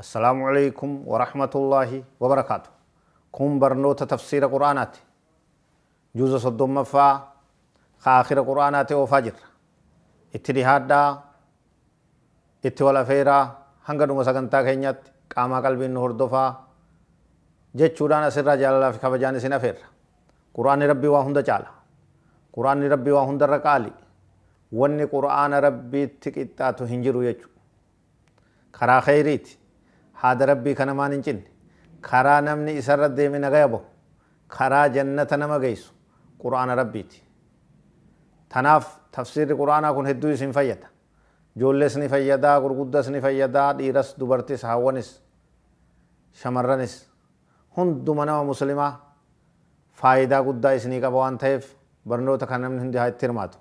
Assalaamu Aleeykum Warahmatullaahi Wabarakaatu Kun barnoota tafsiira Qur'aanaati. Juuza soddommaffaa ka aakhira Qur'aanaati oofaa jirra. Itti dhihaadhaa, itti wal afeeraa, hanga dhuma sagantaa keenyaatti qaamaa qalbiin nu hordofaa jechuudhaan asirraa jaalalaa fi kabajaan isin afeerra. Qur'aanni Rabbii waa hunda caala. Qur'aanni Rabbii waa hundarra qaali. Wanni Qur'aana Rabbiitti qixxaatu hin jiru jechuudha. Karaa kheyriiti. Haada Rabbii ka namaan hin cinne. Karaa namni isarra deeme nagaya bahu. Karaa jannata nama geysu Qur'aana Rabbiiti. Tanaaf tafsiirri Qur'aanaa kun hedduu isin fayyada. Joollees ni fayyada, gurguddas ni fayyada, dhiiras, dubartis, haawwanis, shamarranis. Hunduma nama muslimaa faayidaa guddaa isinii qaba waan taheef barnoota kana namni hundi haa itti hirmaatu.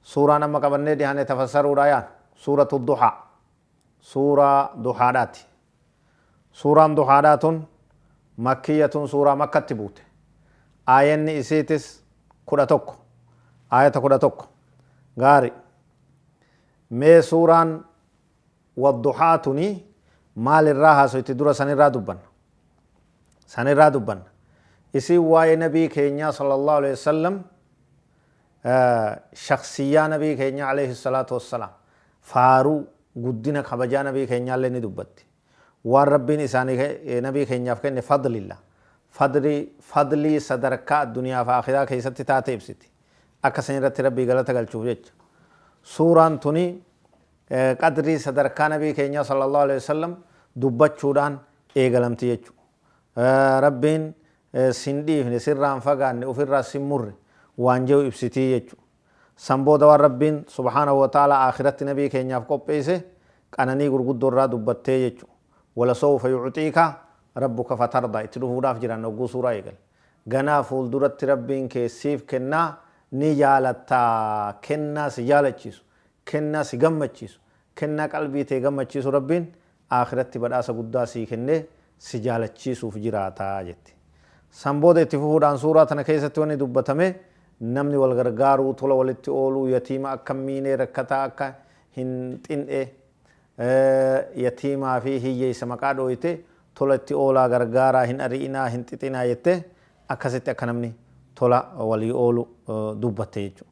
Suuraan amma qabannee dhihaane tafassaruudhaa yaanu suuratu duhaa suuraa duhaadhaati. Suuraan duhaadhaa tun makkiyyatun suuraa makkatti buute. Aayanni isiitis kudha tokko aayata kudha tokko gaari mee suuraan wadduhaa tuni maal irraa haasoyti dura sanirraa dubbanna sanirraa dubbanna isiin waa'ee nabii keenyaa sallallahu alaihi wasallam shakhsiyyaa Nabii keenyaa aleyhi salaatu wassalaam, faaruu, guddina, kabajaa Nabii keenyaallee ni dubbatti. Waan Rabbiin isaanii, Nabii keenyaaf kenne fadlilla. Fadli, fadlii sadarkaa addunyaa fi aakhiraa keessatti taate ibsiti. Akka san irratti Rabbii galata galchuuf jecha. Suuraan tuni qadrii sadarkaa Nabii keenyaa sallallaahu aleyhi wasallam dubbachuudhaan eegalamti jechuudha. Rabbiin sin dhiifne, sirraa hin fagaanne, ofirraas sin murre waan je'u ibsiti jechu. San booda waan Rabbiin, subhaanahu wa ta'aalaa, aakhiratti nabii keenyaaf qopheeyse qananii gurguddoo irraa dubbattee jechu. Walasawfa yu'tiika rabbuka fatardaa itti dhufuudhaaf jiran hogguu suuraa eegale. Ganaa fuulduratti Rabbiin kee siif kennaa ni jaalatta, kennaa si jaalachiisu, kennaa si gammachiisu, kennaa qalbii tee gammachiisu Rabbiin aakhiratti badhaasa guddaa sii kennee si jaalachiisuuf jiraata jetti. San booda itti fufuudhaan suuraa tana keessatti wanni dubbatame namni wal gargaaruu, tola walitti ooluu, yatiima akka hin miinee, rakkataa akka hin xin'e, yatiimaa fi hiyyeessa maqaa dhooyte tola itti oolaa, gargaaraa, hin ari'inaa, hin xixinaa jettee akkasitti akka namni tola walii oolu dubbatte jechuudha.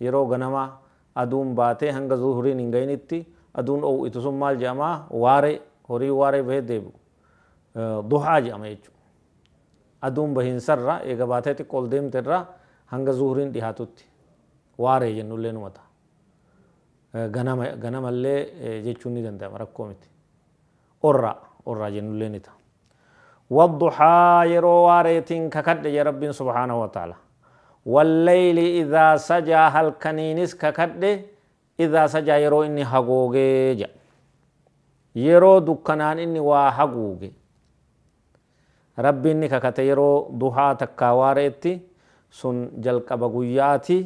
Yeroo ganamaa, aduun baatee hanga zuhriin hin gayinitti aduun ow'itu sun maal jedhama? Waaree, horiin waaree bahee deebi'u. Duhaa jedhama jechuudha. Aduun bahiinsarra, eega baatee xiqqo ol deemte irra hanga zuhriin dhihaatutti waaree jennullee numa ta'a. Ganama, ganamallee jechuun ni danda'ama, rakkoo miti. orraa, orraa jennullee ni ta'a. Wadduhaa yeroo waareetiin kakadhe jedhe Rabbiin subhaanahu wa ta'aalaa. Walleyli idhaa sajaa halkaniinis kakadhe idhaa sajaa yeroo inni hagoogee jedha. Yeroo dukkanaan inni waa haguuge. Rabbiin ni kakate yeroo duhaa takkaa waare'etti, sun jalqaba guyya'aati,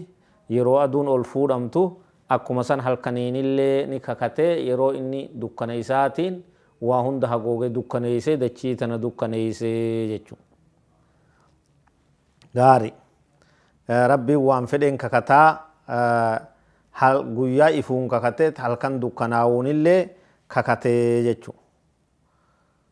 yeroo aduun ol fuudhamtu, akkuma san halkaniinillee ni kakate yeroo inni dukkana isaatiin waa hunda hagoogee dukkaneeyse dachii tana dukkaneeyse jechuudha. Gaarii. Rabbiin waan fedheen kakata, hal, guyyaa ifuun kakate, halkan dukkanaawuunillee kakate jechuudha.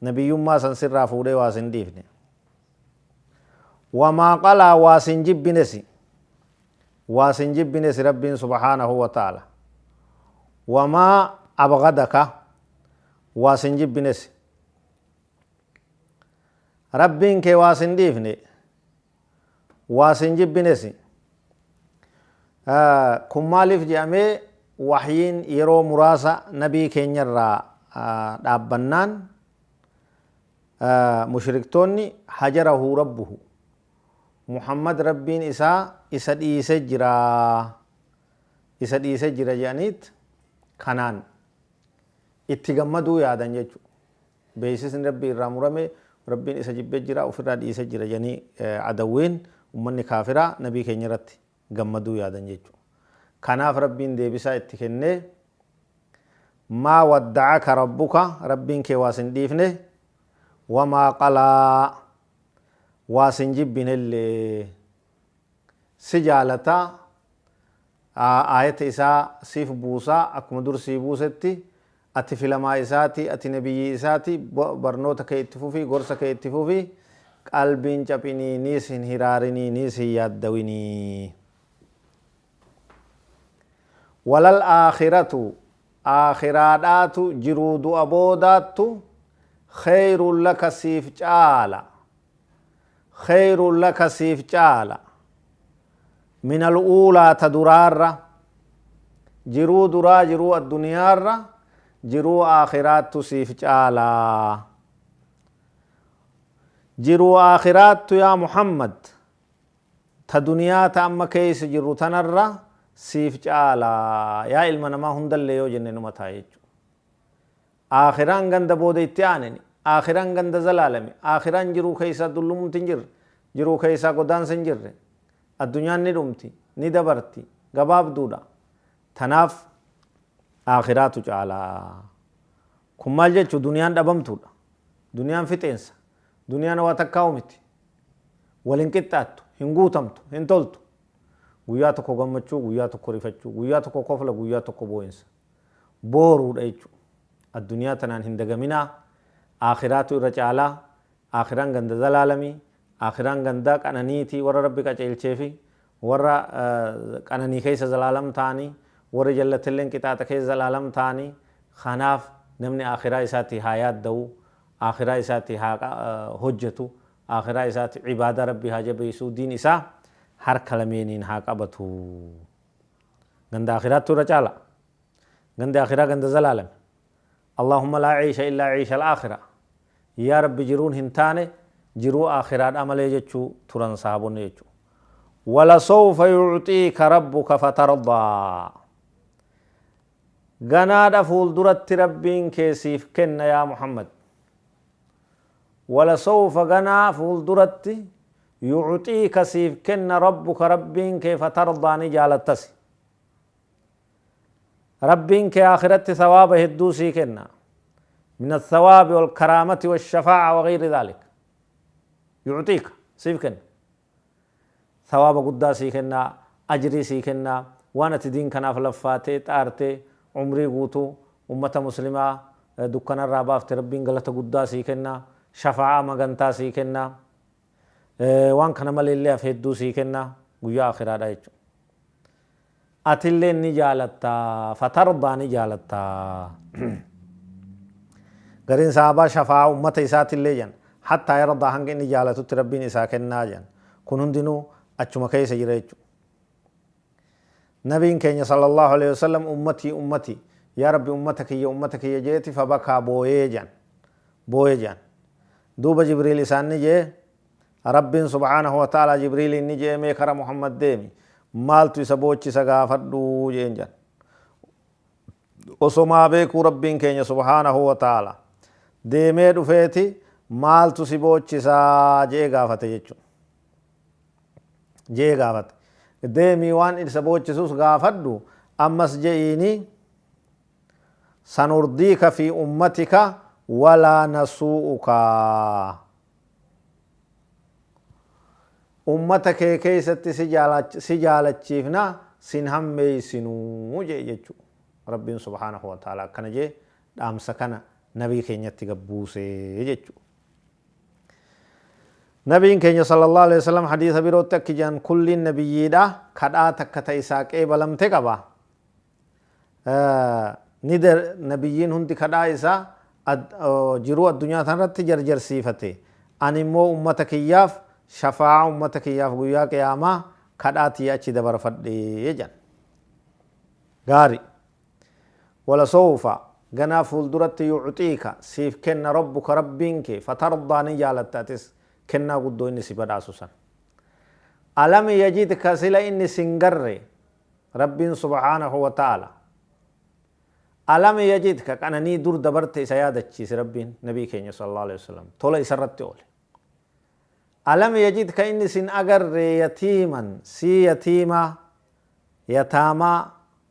Nabiyyummaa san sirraa fuudhee waa sin dhiifne. Wa maa qalaa waa sin jibbinesi. Waa sin jibbinesi Rabbiin subhaanahu wa ta'aala. Wa maa abghadaka waa sin jibbinesi. Rabbiin kee waa sin dhiifne. waa sin jibbinesi. Kun maaliif jedhamee wahyiin yeroo muraasa nabii keenyarraa dhaabbannaan mushriktoonni hajarahu rabbuhu Muhammad rabbiin isaa isa dhiise jira isa dhiise jira jedhaniit kanaan itti gammaduu yaadan jechuudha. Beeysisni Rabbii irraa murame, Rabbiin isa jibbee jira, ufirraa dhiise jira jedhanii Adawwiin, ummanni kaafiraa, Nabii keenya irratti gammaduu yaadan jechu. Kanaaf Rabbiin deebisaa itti kennee, Maa wadda'aka Rabbuka, Rabbiin kee waa sin dhiifne, wamaa qalaa, waa sin jibbinellee. Si jaalata, aayata isaa siif buusa, akkuma dur sii buusetti, Ati filamaa isaati ati nabiyyii isaati barnoota kee itti fufii gorsa kee itti fufii qalbii hin caphinii niis hin hiraarinii niis hin yaaddawinii walal aakhiratu aakhiraadhaatu jiruu du'a boodaattu kheeyrun laka siif caala kheeyrun laka siif caala minal uulaa ta duraarra jiruu duraa jiruu adduniyaarra jiruu aakhiraattu siif caala jiruu aakhiraattu yaa muhammad ta duniyaa ta amma keeysa jirru tanarra siif caala yaa ilma namaa hundallee yoo jenne numa ta'a jechu Aakhiraan ganda booda itti aaneni. Aakhiraan ganda zalaalami. Aakhiraan jiruu keessaa dullumumti hin jirre. Jiruu keessaa godaansa hin jirre. Addunyaan ni dhumti. Ni dabarti. Gabaabduudha. Tanaaf Aakhiraatu caala. Kun maal jechu duniyaan dhabamtuudha. Duniyaan fixeensa. Duniyaan waa takkaa'u miti. Wal hin qixxaattu. Hin guutamtu. Hin toltu. Guyyaa tokko gammachuu, guyyaa tokko rifachuu, guyyaa tokko kofla, guyyaa tokko boo'insa. booruudha jechu adduniyaa tanaan hin dagaminaa aakiraatu irra caalaa aakiraan ganda zalaalami aakiraan ganda qananiiti warra rabbi qaceelcheefi warra qananii keessa zalaalam ta'ani warri jallatilleen qixaaxa keessa zalaalam ta'ani kanaaf namni aakiraa isaati haa yaadda'u aakiraa isaati haa hojjatu aakiraa isaati ibaadaa rabbi haa jabeeysu diin isaa harka lameeniin haa qabatu. Ganda Akhiraattu irra caala. Gandi Akhiraa ganda zalaalami. Allaahumma laa ciisha illaa ciishal Aakhira. Yaa Rabbi jiruun hin taane jiruu Aakhiraadhaa malee jechuu turan sahaabonni jechu. Walasawfa yucxiika rabbuka fatardaa. Ganaadha fuulduratti Rabbiin kee siif kenna yaa Muhammad. Walasawfa ganaa fuulduratti yucxiika siif kenna rabbuka rabbiin kee fatardaa ni jaalattasi rabbiin kee aakhiratti sawaaba hedduu sii kenna min athawaabi walkaraamati washafaaca wagayri dhaalik yucxiika siif kenna sawaaba guddaa sii kenna ajrii sii kenna waan ati diin kanaaf laffaatee xaartee umrii guutuu ummata muslimaa dukkanarraa baafte rabbiin galata guddaa sii kenna shafaa'a magantaa sii kenna Waan kana maleellee hafe hedduu sii kenna, guyyaa aakhiraadhaa jechuudha. Atilleen ni jaalatta, fatardaa ni jaalatta. Gariin sahaabaa shafaa'aa ummata isaatillee jedhan, hattaa yardaa hanga inni jaalatutti Rabbiin isaa kennaa jedhan. Kun hundinuu achuma keessa jira jechuudha. Nabiin keenya sallallaahu aleyhi wasallam ummatii ummatii yaa rabbi ummata kiyya ummata kiyya je'eti fa bakaa booyee je'an booye je'an duuba jibriil isaan ni je'e rabbiin subhaanahu wa ta'aalaa jibriiliin ni je'e mee kara muhammad deemi maaltu isa boochisa gaafadhu je'een je'an osomaa beekuu rabbiin keenya subhaanahu wa ta'aalaa deemee dhufeeti maaltu si boochisa je'ee gaafate jechu je'ee gaafate. Deemii waan isa boochisus gaafadhu, ammas je'iini, Sanurdiika fi ummatika walaa nasuu'uka. Ummata kee keessatti si jaalachiifna, sin hammeeysinu je'e jechu. Rabbiin subhaanahu wa ta'aalaa akkana je'e dhaamsa kana nabii keenyatti gad buuse jechuudha. Nabiin keenya sallallahu aleyh wasallam hadiisa birootti akki jedhan kulliin nabiyyiidha kadhaa takka ta isaa qeebalamte qaba ni nabiyyiin hundi kadhaa isaa jiruu addunyaa tanarratti jarjarsiifate ani immoo ummata kiyyaaf shafaa'a ummata kiyyaaf guyyaa qiyaamaa kadhaa tiyya achi dabarfadhe jedhan gaari ولسوف, ganaa fuulduratti yu'tiika, siif kenna rabbuka rabbiin kee, fatardaa ni jaalatta atis, kennaa guddoo inni si badhaasu san. Alam yajidka sila inni sin garre, rabbiin subhaanahu wa ta'aala. Alam yajidka qananii dur dabarte isa yaadachiise rabbiin, nabii keenya sallallahu aleyh wasallam, tola isarratti oole. Alam yajidka inni sin agarre yatiiman, sii yatiimaa, yataamaa,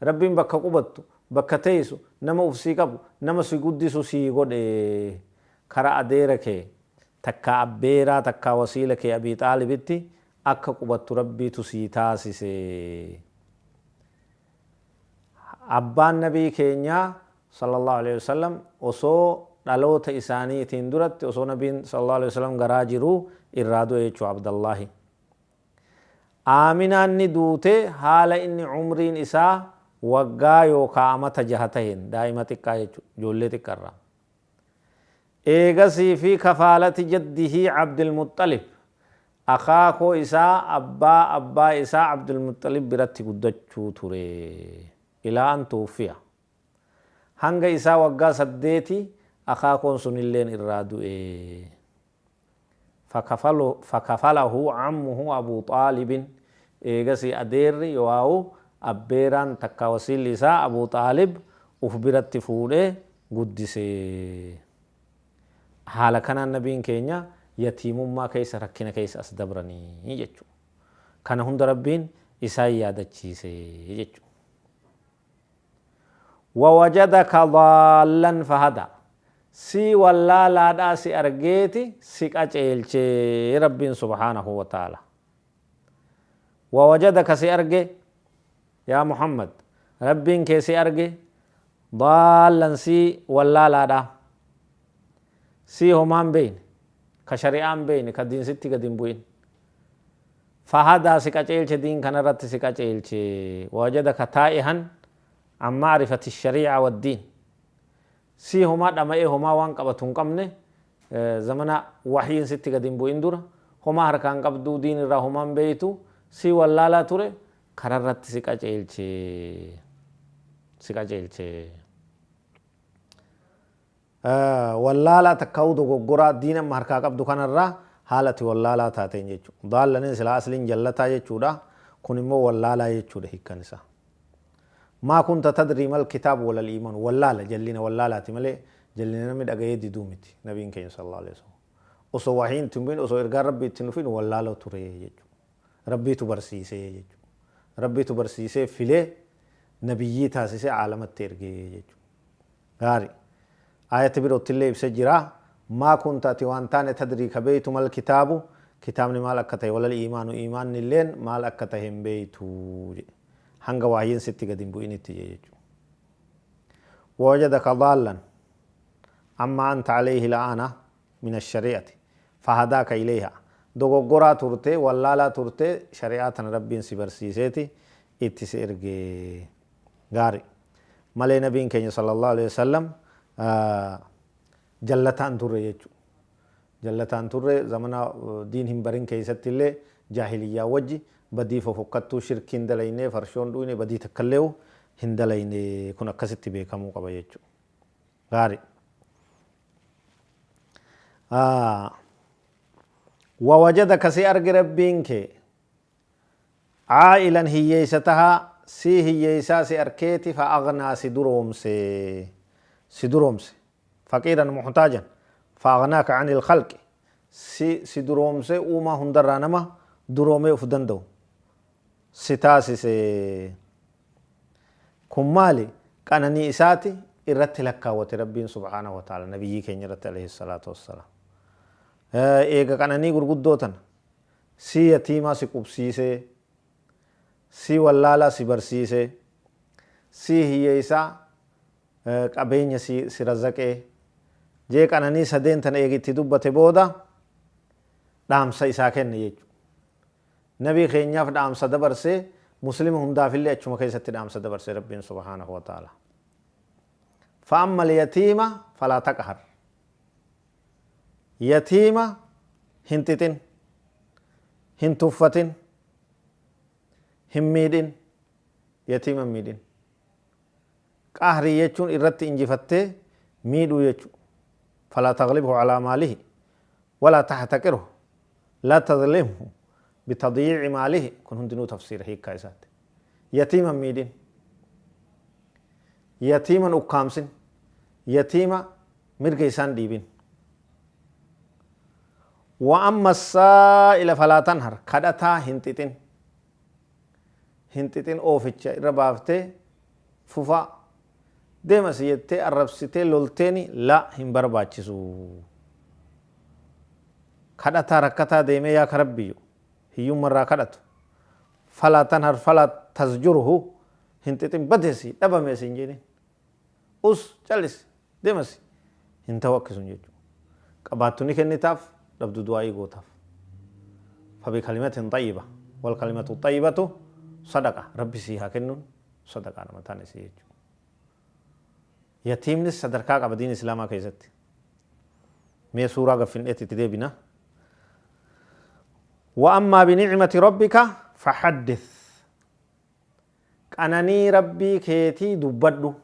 Rabbiin bakka qubattu, bakka teeysu, nama uf sii qabu, nama si guddisu sii godhe. Kara adeera kee, takkaa abbeeraa takkaa wasiila kee Abii Xaalibitti akka qubattu Rabbiitu sii taasise. Abbaan Nabii keenyaa, Sallallaahu aleyhi wa sallam, osoo dhaloota isaaniitiin duratti, osoo Nabiin, Sallallaahu aleyhi wa sallam, garaa jiruu irraa du'e jechuudha Abdallaahi. Aaminaan ni duute haala inni umriin isaa waggaa yookaa amata jaha taheen, daa'ima xiqqaa jechu, ijoollee xiqqa irraa. Eegasii fi kafaalati jaddihi Abdilmuxxalib, akaakoo isaa abbaa abbaa isaa Abdulmuxxalib biratti guddachuu ture. Ilaa an tuwuffiya. Hanga isaa waggaa saddeeti akaakoon sunilleen irraa du'e. Fakafalahu Ammuhu Abuu Xaalibin, eegasii adeerri yooaau abbeeraan takkaa wasiilli isaa Abuu Xaalib uf biratti fuudhee guddise. Haala kanaan Nabiin keenya yatiimummaa keessa rakkina keessa as dabranii jechuudha. Kana hunda Rabbiin isaan yaadachiise jechuudha. Wawajadaka daallan fahadaa Si wallaalaadhaa si argeeti si qaceelche Rabbiin subhaanahu wa ta'aala. Wawajadaka si arge yaa Muhammad Rabbiin kee si arge daallan si wallaalaadhaa si homaa hin beeyne ka shari'aa hin beeyne ka diin sitti gad hin bu'in. Fahada si qaceelche diin kanarratti si qaceelche wawajadaka taa'ihan an ma'rifati sharii'a waddiin si homaa dhama'ee homaa waan qabatu hin qabne zamana wahyiin sitti gad hin bu'in dura homaa harkaa hin qabdu diin irraa homaa hin beeytu si wallaalaa ture kararratti si qaceelche si qaceelche wallaalaa takkaahuu dogoggoraa diin amma harkaa qabdu kanarraa haala ati wallaalaa taateen jechuudha. Daallanin silaa asliin jallataa jechuudha. Kun immoo wallaalaa jechuudha hiikkan isaa. Maa kunta tadrii mal kitaab walal iiman wallaala jallina wallaalaati malee jallina namni dhaga'ee diduu miti nabiin keenya sallallahu alaihi wasallam. Osoo wahiin itti hin bu'in osoo ergaan rabbii itti hin dhufin wallaaloo ture jechuudha. Rabbiitu barsiisee jechuudha. Rabbiitu barsiisee filee nabiyyii taasisee caalamatti ergee jechuudha. Gaari. Aayati birottillee ibse jira, Maa kunta ati waan taane tadrii ka beeytu mal kitaabu, kitaabni maal akka tahe walal iimaanu iimaannilleen maal akka tahe hin beeytu jedhe. Hanga wahyiin sitti gad hin bu'initti jedhe jechuudha. Wawajadaka daallan ammaa anta aleyhi la'aana min ashari'ati fahadaaka ileyhaa. Dogoggoraa turte, wallaalaa turte, shari'aa tana Rabbiin si barsiiseeti itti si erge. Gaari. Malee Nabiin keenya sallallahu aleyh wasallam jallataa hin turre jechu. Jallataa hin turre zamana diin hin barin keeysatti illee jaahiliyyaa wajji badii fofokkattuu shirkii hin dalaynee farshoon dhuyne badii takka illeehu hin dalayne kun akkasitti beekamuu qaba jechu. Gaari. Wawajadaka si arge Rabbiin kee Caa'ilan hiyyeessa taha, sii hiyyeessaa si arkeeti fa aghnaa si duroomse, si duroomse, faqiiran muhtaajan, fa aghnaaka anil khalqi, si, si duroomse uumaa hundarraa nama duroomee uf danda'u si taasise. Kun maali? Qananii isaati irratti lakkaawwate Rabbiin subhaanahu wa ta'aala nabiyyii keenya irratti alayhi salaatu wassalaam. Eega qananii gurguddoo tana. Sii yatiimaa si qubsiisee Sii wallaalaa si barsiisee Sii hiyyeessaa qabeenya si razaqee jee qananii sadeen tana eega itti dubbate booda dhaamsa isaa kenne jechuudha. Nabii keenyaaf dhaamsa dabarse Muslima hundaafillee achuma keessatti dhaamsa dabarse Rabbiin subhaanahu wa ta'aalaa. Fa'ammal yatiima falaa taqhar. Yatiima hin xixin. Hin tuffatin. Hin miidhin. Yatiima hin miidhin. Qahrii jechuun irratti injifattee miidhuu jechu. Falaa taglibhu calaa maalihi. Walaa tahtaqirhu. Laa tadlimhu. Bitadyiici maalihi. Kun hundinuu tafsiira hiikkaa isaatti. Yatiima hin miidhin. Yatiima hin ukkaamsin. Yatiima mirga isaan dhiibin. Wa amma as-saa'ila falaa tanhar, kadhataa hin xixin. Hin xixin ooficha irra baaftee fufaa deema si jettee arrabsitee lolteeni la hin barbaachisu. Kadhataa rakkataa deemee yaa ka Rabbiyu hiyyumma irraa kadhatu. Falaa tanhar falaa tasjurhu hin xixin badeesi dhabamee siin jedhin. Us callisi demasi hin tahu akki sun jechu qabaattu ni kennitaaf dhabdu du'aa'ii gootaaf fabi kalimatin xayyiba wal kalimatu xayyibatu sadaqa rabbi sii haa kennun sadaqaa nama taane si jechu yatiimnis sadarkaa qaba diin islaamaa keessatti mee suuraa gaffindheetti itti deebina wa ammaa binicmati rabbika fahaddith Qananii rabbii keetii dubbadhu,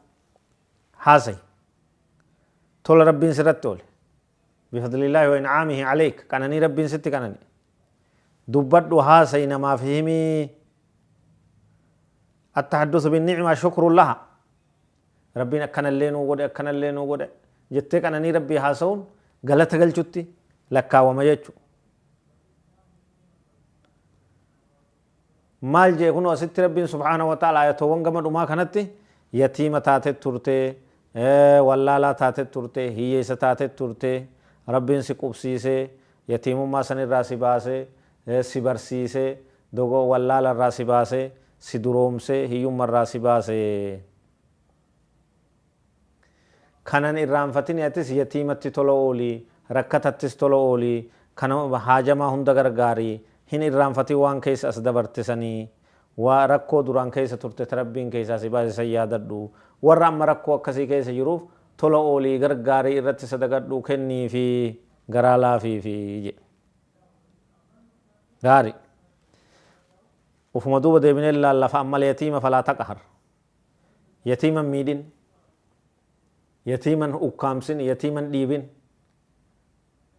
haasayi. Tola Rabbiin sirratti oole. Bifadlillaahi wa in'aamihi aleyk. Qananii Rabbiin sitti qanane. Dubbadhu, haasayi, namaaf himi. Attahadduthu binni'ima shukrun laha. Rabbiin akkanallee nuu godhe, akkanallee nuu godhe jettee qananii Rabbii haasawuun galata galchutti lakkaawama jechu. Maal je'e kunoo asitti Rabbiin subhaanahu wa ta'aalaa aayatoowwan gama dhumaa kanatti yatiima taatet turte, wallaalaa taatet turte, hiyyeessa taatet turte, Rabbiin si qubsiisee, yatiimummaa san irraa si baasee, si barsiisee, dogo, wallaala irraa si baasee, si duroomsee, hiyyumma irraa si baasee. Kana hin irraanfatini atis yatiimatti tola ooli, rakkatattis tola ooli, kan haajamaa hunda gargaari, hin irraanfatin waan keessa as dabarte sani, waa rakkoo duraan keessa turte ta Rabbiin keessaa si baase san yaadadhu, warra amma rakkoo akkasii keessa jiruuf tola ooli, gargaari, irratti sadaqadhu, kenniifi, garaa laafiifi jedhe. Gaarii. Ufuma duuba deebinee laalla fa'ammal yatiima falaa taqhar. Yatiima hin miidhin. Yatiima hin ukkaamsin, yatiima hin dhiibin.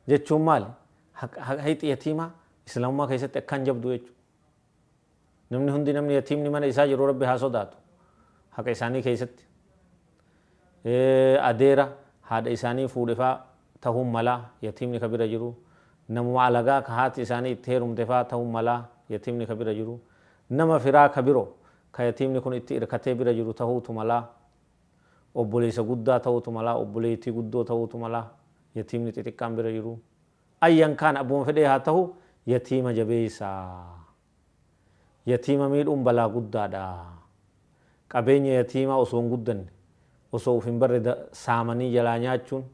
Jechuun maali? Haqi yatiimaa Islaamummaa keessatti akkaan jabdu jechuudha. Namni hundi namni yatiimni mana isaa jiru Rabbi haa sodaatu. Haqa isaanii keessatti. Adeera haadha isaanii fuudhe fa'aa tahuu mala, yatiimni ka bira jiru, namuma alagaa ka haati isaanii itti heerumte faa tahuu mala, yatiimni ka bira jiru, nama firaa ka biro ka yatiimni kun itti irkatee bira jiru tahuutu mala, obboleeysa guddaa tahuutu mala, obboleeytii guddoo tahuutu mala, yatiimni xixiqqaan bira jiru. Ayyan kaana abbuma fedhee haa tahu yatiima jabeeysaa. Yatiima miidhuun balaa guddaa dha. Qabeenya yatiimaa osoo hin guddanne, osoo uf hin barre saamanii jalaa nyaachuun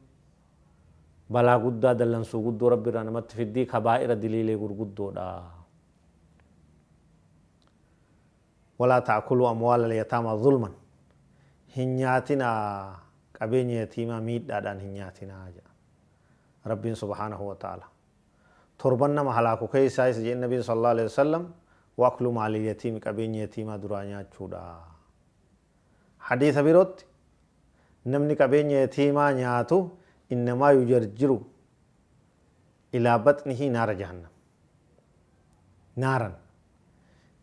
balaa guddaa, dallansuu guddoo Rabbi irraa namatti fiddii, kabaa'ira, diliilee gurguddoo dha. Walaa ta'akuluu amwaalal yataamaa zulman. Hin nyaatinaa qabeenya yatiimaa miidhaadhaan hin nyaatinaa jedha Rabbiin subhaanahu wa ta'aalaa. Torban nama halaaku keessaa isa jedhe Nabiin sallallaahu aleeyhi wasallam, Wa aklu maalil yatiimi qabeenya yatiimaa duraa nyaachuudha. Hadiisa birootti Namni qabeenya yatiimaa nyaatu innamaa yujarjiru ilaa baxnihi naara jahannam. Naaran.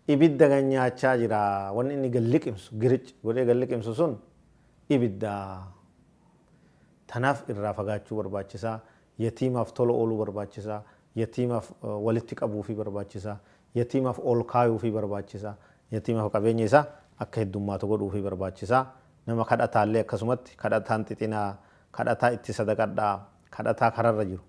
Ibidda gad nyaachaa jira. Wanni inni gad liqimsu, giric godhee gad liqimsu sun ibidda. Tanaaf irraa fagaachuu barbaachisa. Yatiimaaf tola ooluu barbaachisa. Yatiimaaf walitti qabuufii barbaachisa. Yatiimaaf ol kaayuufii barbaachisa. Yatiimaaf qabeenya isaa akka heddummaatu godhuufii barbaachisa. Nama kadhataallee akkasumatti, kadhataan xixinaa, kadhataa itti sadaqadhaa, kadhataa kararra jiru,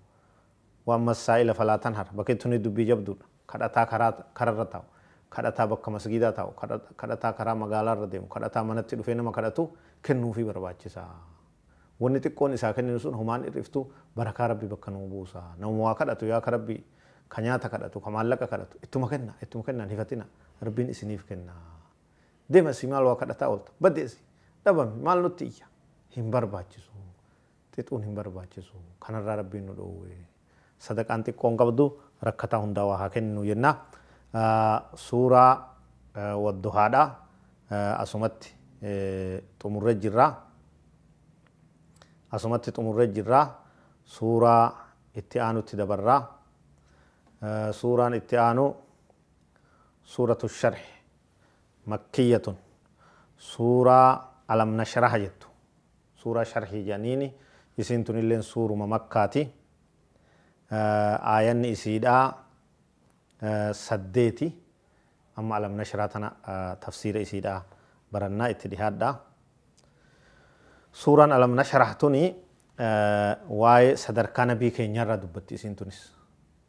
Waan mas saa'ila falaa tan har, bakee tunii dubbii jabduudha. Kadhataa karaa kara irra taa'u, kadhataa bakka masgiidaa taa'u, kadha kadhataa karaa magaalaa irra deemu, kadhataa manatti dhufee nama kadhatu kennuufii barbaachisa. Wanni xiqqoon isaa kenninu sun homaan hir'iftu barakaa Rabbi bakka nuu buusa. Namuma waa kadhatu yaa ka Rabbi ka nyaata kadhatu, ka maallaqa kadhatu ittuma kenna, ittuma kenna hin hifatina Rabbiin isiniif kenna. Deem asii maal waa kadhataa oolta? Baddi asii. Dhabami maal nutti iyya? Hin barbaachisu. xixuun hin barbaachisu. Kanarraa Rabbiin nu dhoowwe. Sadaqaan xiqqoon qabdu rakkataa hundaawaa haa kenninu jenna. Suuraa Wadduhaadha. Asumatti xumurre jirra. Asumatti xumurre jirra. Suuraa itti aanutti dabarra. Suuraan itti aanu Suuratu Sharhi Makkiyatun suuraa Alam Nashraha jettu Suuraa sharhii jedhaniini. Isiin tunilleen suuruma makkaati. Aayanni isiidhaa saddeeti. Amma alam nashraa tana tafsiira isiidhaa barannaa itti dhihaadhaa. Suuraan alam nashrah tuni waa'ee sadarkaa nabii keenyarraa dubbatti isiin tunis.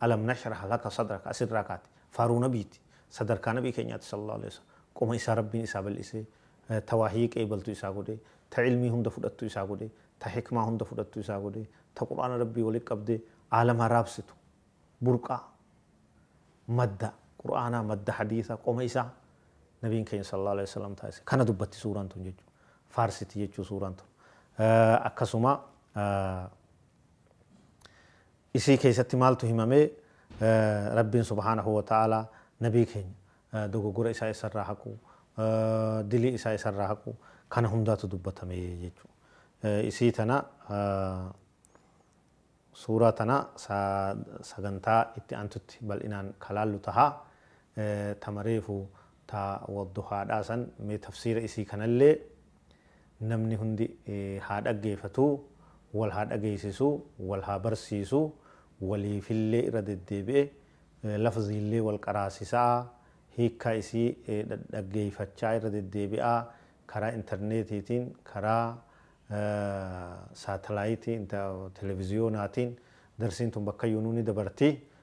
Alam nashrah laka sadrak as irraa kaate faaruu nabiiti sadarkaa nabii keenyaati sallallahu aleyh wasal qoma isaa rabbiin isaa bal'isee ta wahyii qeebaltu isaa godhe ta ilmii hunda fudhattu isaa godhe ta hikmaa hunda fudhattu isaa godhe ta qur'aana rabbii wali qabde aalamaa raabsitu burqaa madda qur'aanaa madda hadiisa qoma isaa nabiin keenya sallallahu aleyh wasalam taasise kana dubbatti suuraan tun jechuu faarsiti jechuu suuraan tun akkasuma Isii keessatti maaltu himame? Rabbiin subhaanahu wa ta'aalaa nabii keenya dogoggora isaa isarraa haquu, dilii isaa isarraa haquu kana hundaatu dubbatame jechuudha. Isii tana suuraa tana sagantaa itti aantutti bal'inaan ka laallu taha. Tama reefu ta wadduhaadhaa san mee tafsiira isii kanallee Namni hundi haa dhaggeefatu, wal haa dhageessisu, wal haa barsiisu, waliifillee irra deddeebi'e lafziillee wal qaraasisa'a, hiikkaa isii dhadhaggeeffachaa irra deddeebi'aa, karaa interneetiitiin, karaa saatalaayitii, televiziyoonaatiin darsiin tun bakkayyuunuu ni dabarti.